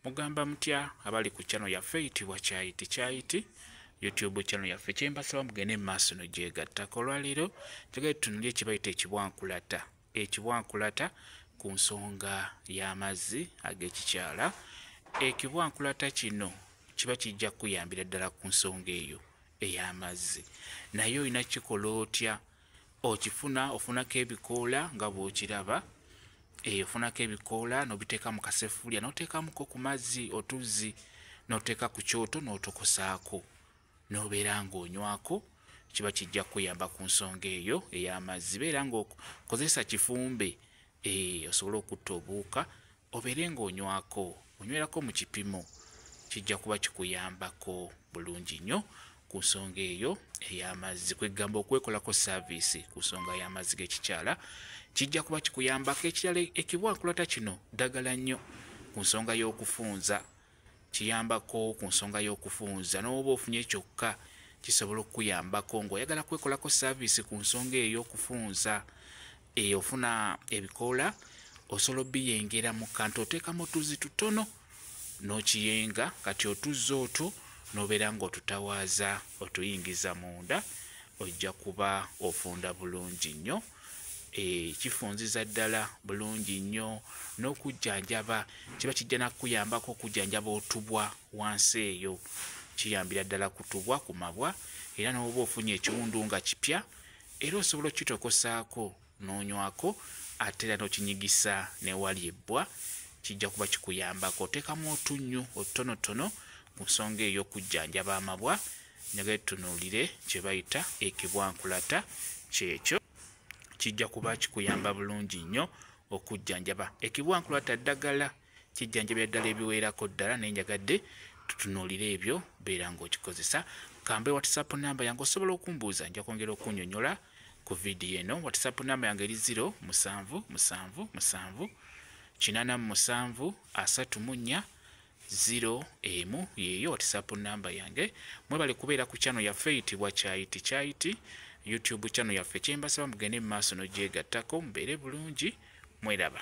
mugamba mutya abali ku chano yaffe eyitibwa kyayiti kyayiti youtube chano yaffe kyembasaba mugende mu maaso no gyegattako olwaleero kyagali tunuli ekibayita ekibwankulata ekibwankulata ku nsonga y'amazzi ag'ekikyala ekibwankulata kino kiba kijja kukuyambira ddala ku nsonga eyo ey'amazzi naye olina kikola otya okifuna ofunako ebikoola nga bwokiraba eyo eh, ofunako ebikoola nobiteeka mu kasefuulya noteekamuko ku mazzi otuzzi noteeka ku kyoto notokosaako nobeera ngaonywako kiba kijja kuyamba ku nsonga eyo ey'amazzi beera ngaokozesa kifumbe eh, osobole okutta obuuka obeere ng'onywako onywerako mu kipimo kijja kuba kikuyambako bulungi nnyo ku nsonga eyo ey'amazzi kwegamba okwekolako saaviisi ku nsonga y'amazzi g'ekikyala kijja kuba kikuyambako ekirala ekibwankulata kino ddagala nnyo ku nsonga y'okufunza kiyambako ku nsonga y'okufunza n'oba ofunye kyokka kisobola okukuyambako ng'oyagala kwekolako saaviisi ku nsonga eyo y'okufunza eyo ofuna ebikoola osobola obiyengera mu kantu oteekamu otuzi tutono n'okiyenga kati otuzza otwo n'obeera ng'otutawaaza otuyingiza munda ojja kuba ofunda bulungi nnyo Eh, kifunziza ddala bulungi nnyo n'okujjanjaba kiba kijja nakukuyambako okujjanjaba otubwa wansi eyo kiyambira ddala kutubwa ku mabwa era n'oba ofunye ekiwundu nga kipya era osobola okukitokosaako n'onywako ate era n'okinyigisa newali ebbwa kijja kuba kikuyambako oteekamu otunnyu otutonotono ku nsonga ey'okujjanjaba amabwa ne betunuulire kye bayita ekibwankulata kyekyo kijja kuba kikuyamba bulungi nnyo okujjanjaba ekibwankulata ddagala kijjanjabira ddala ebiweerako ddala naye njagadde tutunuulire ebyo beera ng'okikozesa kambe whatsapp namba yange osobola okumbuuza nja kwongera okunyonyola ku vidiyo eno whatsapp namba yange eri 0 musanvu musanvu musanvu kinana mu musanvu asatu mu nnya zero emu yeyo whatsapp namba yange mwebale kubeera ku chano yaffe eyitibwa kyayiti kyayiti youtube chano yaffe kyembasaba mugende mu maaso nogyegattako mubeere bulungi mweraba